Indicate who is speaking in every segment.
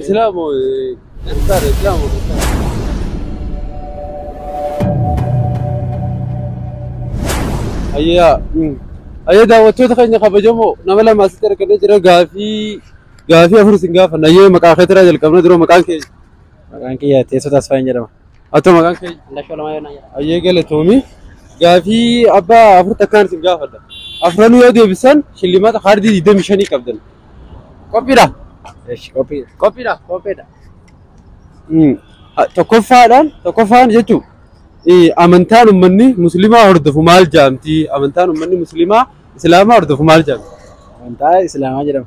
Speaker 1: Islaamo Ertaara Islaamo Ayyaa Ayyaa daawwattoota keenya kabajamoo nama lama asitti argannee jira gaafii gaafii afur isin gaafanna ayyee maqaa keetiraa jalqabna dura maqaan keenya. Maqaan kiyya teessoo taasifaa hin jedhama. Atoo maqaan kee Indashoo lama yoo na jedha. ayyee galatoomi. Gaafii abbaa afur takkaan isin gaafadha. Afranuu yoo deebisan shillimaata kaardii 25 qabdan. Qophiidha? Eesh qophii. Qophiidha? Qopheedha. Mm. Ha- Tokkoffaadhaan tokkoffaan jechuun eh, amantaan uummanni musliimaa hordofu maal jaamti? Amantaan uummanni musliimaa islaamaa hordofu maal jaamti? Amantaa Islaamaa jedhama.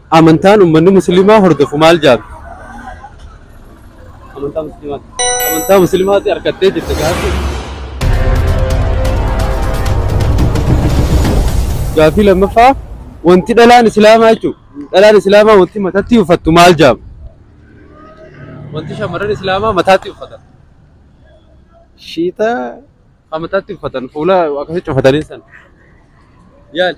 Speaker 1: Amantaan ummanni musliimaa hordofu maal jaabbi? Amantaa musliimaati. Amantaa musliimaati harkattee jirta gaaffii. Gaaffii lammaffaa wanti dhalaan islaamaa jechuun dhalaan islaamaa wanti matatti uffattu maal jaabbi? Wanti shamarran islaamaa mataatti uffatan. Shiita. Kan mataatti uffatan fuula akkasitti cufatanii san. Yaali.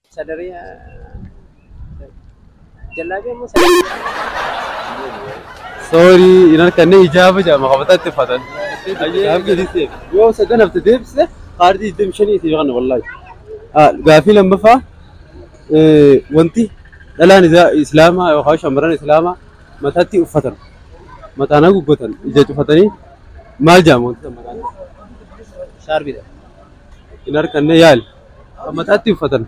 Speaker 1: Sadaree jallaabii ammoo sadaree. Sorry, hin harkanne hijaaba jedhama qabataa itti uffatan. Yoo sadan hafte deebise kaardii digdamii shanii itti yookaan wallaahi. Gaaffii lammaffaa wanti dhalaan islaamaa yookaan shamarran islaamaa mataatti uffatan mataan haguuggatan ija cufatanii maal jedhama wanti mataan? Shaarbiidha. Hin harkanne yaali. kan mataatti uffatan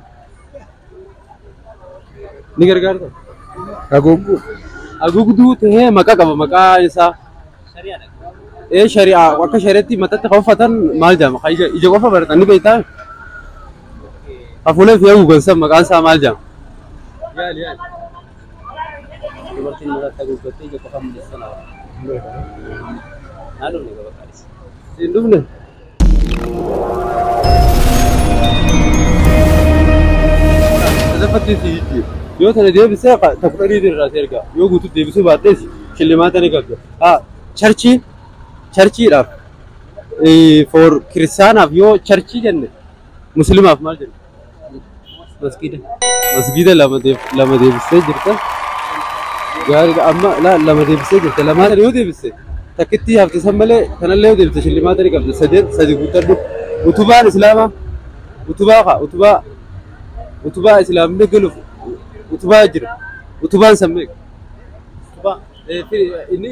Speaker 1: ni gargaarta. Haguugguu. Haguugduu ta'ee maqaa qaba maqaa isaa. Ee shari'aa akka shari'atti mataatti kan uffatan maal jedhama? Kan ija ija qofa baratan ni beektaa? Hafuulee fi haguugan san maqaan isaa maal jedhama? Yaali yaali. Dubartiin mataatti haguuggattee ija qofa mul'issan hawa. Naan dhumne gaba qaadhisa. Hin dhumne. Lafattee si jijjiiru. Yoo tana deebisee qa- ta kudha dhiitiin irraa si erga. Yoo guutuu deebisuu baadhes shillimaata ni qabda. Haa charchii charchiidhaaf eh, for kiristaanaaf yoo charchii jenne muslimaaf maal jenna? Masgiida. Masgiida lama deeb- lama deebistee jirta. Gaariidha amma laa lama deebistee jirta. Lamaa sana yoo deebiste takkittii hafte san malee kanallee yoo deebiste shillimaata ni qabda. Sadeen sadi guuttadhu. Utubaan islaamaa utubaa kaa utubaa utubaa islaamni galuuf utubaa jira. Utubaan san meeqa? Utubaa. Eh, fi- inni